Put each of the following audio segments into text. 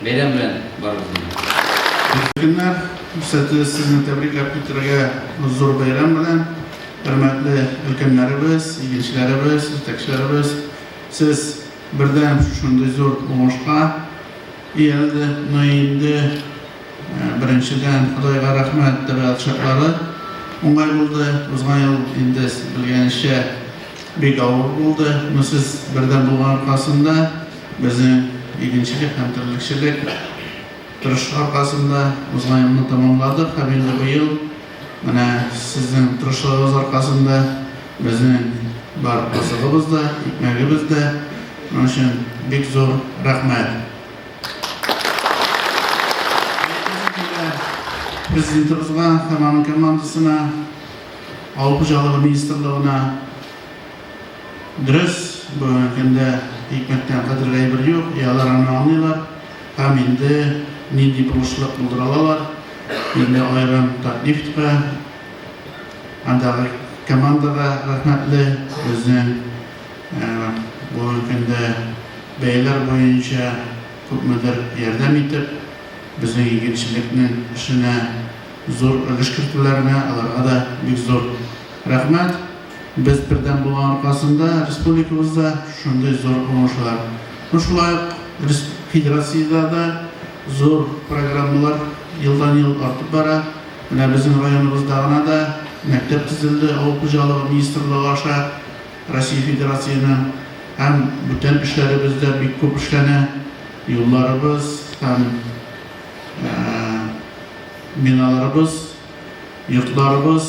Бәйрәм белән барыгызны да! Өлкәннәр сәте сезне тәбрикләп китерергә зур бәйрәм белән. Хөрмәтле өлкәннәребез, игенчеләребез, җитәкчеләребез, сез бердәм шушындый зур уңышка иялде. Ну и инде беренчедән Ходайга рәхмәт, табигать шартлары уңай булды. Узган ел инде сез белгәнезчә бик авыр булды. Ну сез бердәм булган аркасында Безнең игенчелек һәм терлекчелек тырышлык аркасында узган елны тәмамладык һәм инде быел менә сезнең тырышлыгыгыз аркасында безнең бар азыгыбыз да, икмәгебез дә. Моның өчен бик зур рәхмәт. Президентыбызга һәм аның командасына, Авыл хуҗалыгы министрлыгына, Дөрес, бүгенге көндә икмәктән кадерле әйбер юк, и алар аны аңлыйлар һәм инде нинди булышлык булдыра алалар, инде аерым Татнефтька, андагы командага рәхмәтле, безнең бүгенге көндә бәяләр буенча күпмедер ярдәм итеп, безнең игенчелекнең эшенә зур өлеш кертүләренә аларга да бик зур рәхмәт. Без бердәм булу аркасында республикабызда шундый зур уңышлар, ну шулай ук федерациядә дә зур программалар елдан-ел артып бара. Менә безнең районыбызда гына да мәктәп төзелде авыл хуҗалыгы министрлыгы аша Россия Федерациясенең һәм бүтән эшләребез дә бик күп эшләнә, юлларыбыз һәм биналарыбыз, йортларыбыз,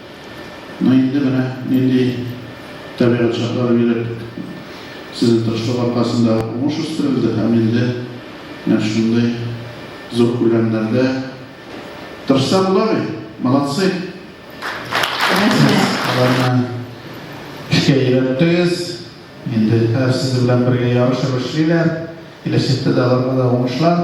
Ну инде менә нинди табигать шартлары биреп, сезнең тырышлык аркасында уңыш үстерелде һәм инде менә шундый зур күләмнәрдә тырышса була бит. Молодцы! Аларны эшкә өйрәттегез, инде хәзер сезнең белән бергә ярышып эшлиләр, киләчәктә дә аларга да уңышлар!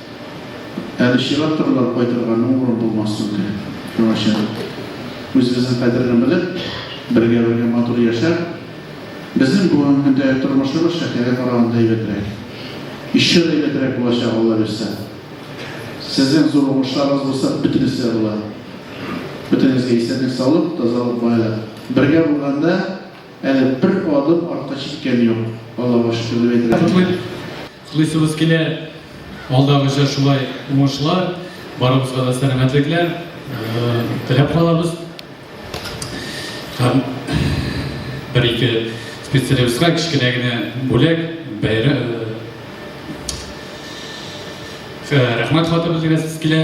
Әле чыга торалар, кайтырга мең урын булмас түгел. Шуңа чын үзебезнең кадерне белеп, бергә-бергә матур яшәп, безнең бүгенге көндәге тормышыбыз шәһәргә караганда әйбәтрәк. Еще да әйбәтрәк булачак, Алла бирсә. Сезнең зур уңышларыгыз булса, бөтенесе дә була. Бөтенегезгә исәнлек, саулык, тазалык, байлык. Бергә булганда әле бер адым артка чиккән юк. Аллага шөкер дип әйтергә була. Кутлыйсыбыз килә. Алдагыча шулай уңышлар, барыбызга да сәламәтлекләр теләп калабыз. Һәм бер-ике специалистка кечкенә генә бүләк, бәйрәм. Рәхмәт хаты белдерәсез килә.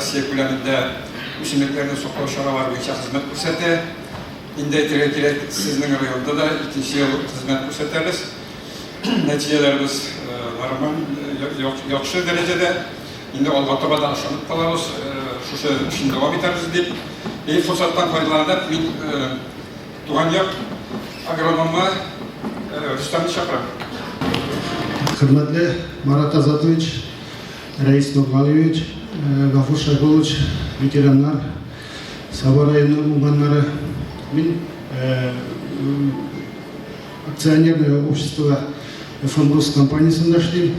Россия күләмендә үсемлекләрне саклау чаралары буенча хезмәт күрсәтә. Инде әйтергә кирәк, сезнең районда да икенче ел хезмәт күрсәтәбез. Нәтиҗәләребез нормаль, яхшы дәрәҗәдә. Инде алга таба да ышанып калабыз, шушы эшне дәвам итәрбез дип. Бу форсаттан файдаланып, мин Туган як агрономы Рөстәмне чакырам. Хөрмәтле Марат Азатович, Рәис Нургалиевич, Гафур Шайхулович, ветераннар, Саба районы уңганнары. Мин акционерное общество Фондус компаниясендә эшлим.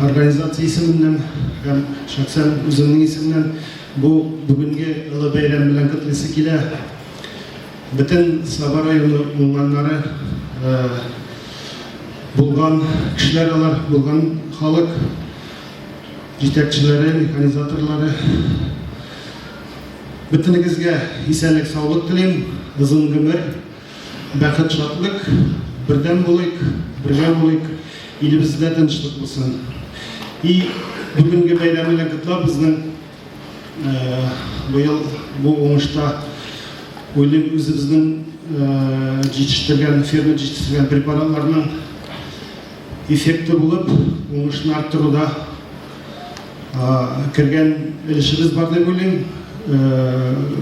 Организация исеменнән һәм шәхсән үземнең исемнән Бу бүгенге олы бәйрәм белән котлыйсы килә. Бөтен Саба районы уңганнары булган кешеләр алар, булган халык җитәкчеләре, механизаторлары. Бөтенегезгә исәнлек, саулык телим, озын гомер. Бәхет шатлык, бердәм булыйк, бергә булыйк, илебездә тынычлык булсын. И бүгенге бәйрәм белән котлап безнең быел бу уңышта уйлыйм үзебезнең җитештергән фермер җитештергән препаратларның эффекты булып уңышны арттыруда кергән өлешебез бар дип уйлыйм.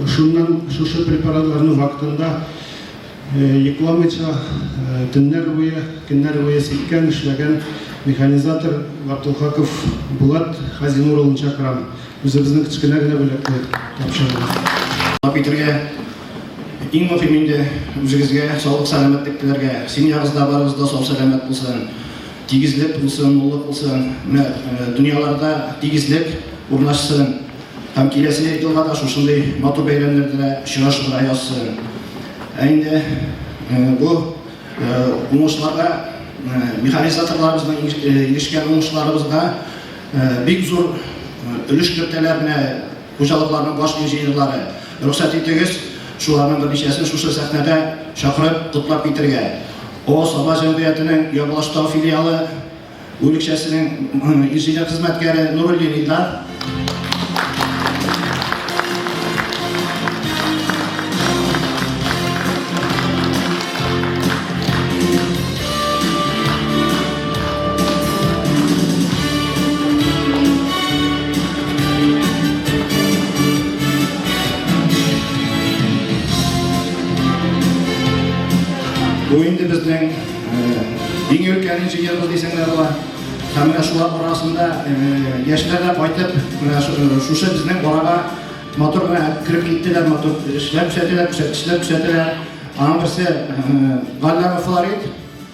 Шуннан шушы препаратларны вакытында йокламыйча, төннәр буе, көннәр буе сиккән, эшләгән механизатор Габдулхаков Булат Хазинур улын чакырам. Үзебезнең кечкенә генә бүләкне тапшырыгыз. Дәвам итәргә. Иң мөһим инде үзегезгә саулык-сәламәтлек теләргә. Семьягыз да, барыгыз да сау-сәламәт булсын. Тигезлек булсын, муллык булсын, менә дөньяларда тигезлек урнашсын һәм киләсе елга да шушындый матур бәйрәмнәрдә очрашырга язсын. Ә инде бу уңышларга механизаторларыбызның ирешкән уңышларыбызга бик зур өлеш кертәләр менә Хуҗалыкларның баш инженерлары, рөхсәт итегез, шуларның берничәсен шушы сәхнәдә чакырып, котлап китергә. О Саба җәмгыятенең Ябалаштау филиалы бүлекчәсенең инженер хезмәткәре Нуруллин Илдар. Бу инде безнең иң өлкән җыелыш дисәң дә була. Һәм менә шулар арасында яшьләр дә кайтып, менә шушы безнең арага матур гына кереп киттеләр, матур эшләп күрсәтәләр, күрсәткечләр күрсәтәләр. Аның берсе Галләме Флорид,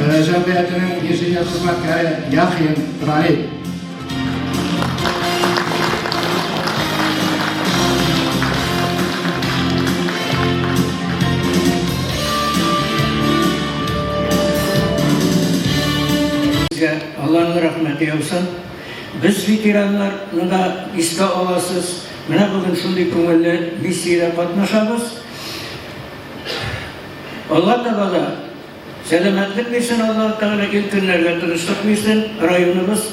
Җәмгыятенең инженер хезмәткәре Яхин Раил. Алланың рәхмәте яусын. Без ветераннарны да искә аласыз. Менә бүген шундый күңелле миссиядә катнашабыз. Алла Табала сәламәтлек бирсен, Алла Тәгалә ил көннәргә тынычлык бирсен, районыбыз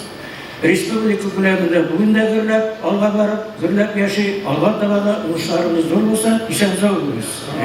республика күләмендә бүген дә гөрләп, алга барып, гөрләп яши, Алла Табала уңышларыбыз зур булсын, исән-сау булыгыз.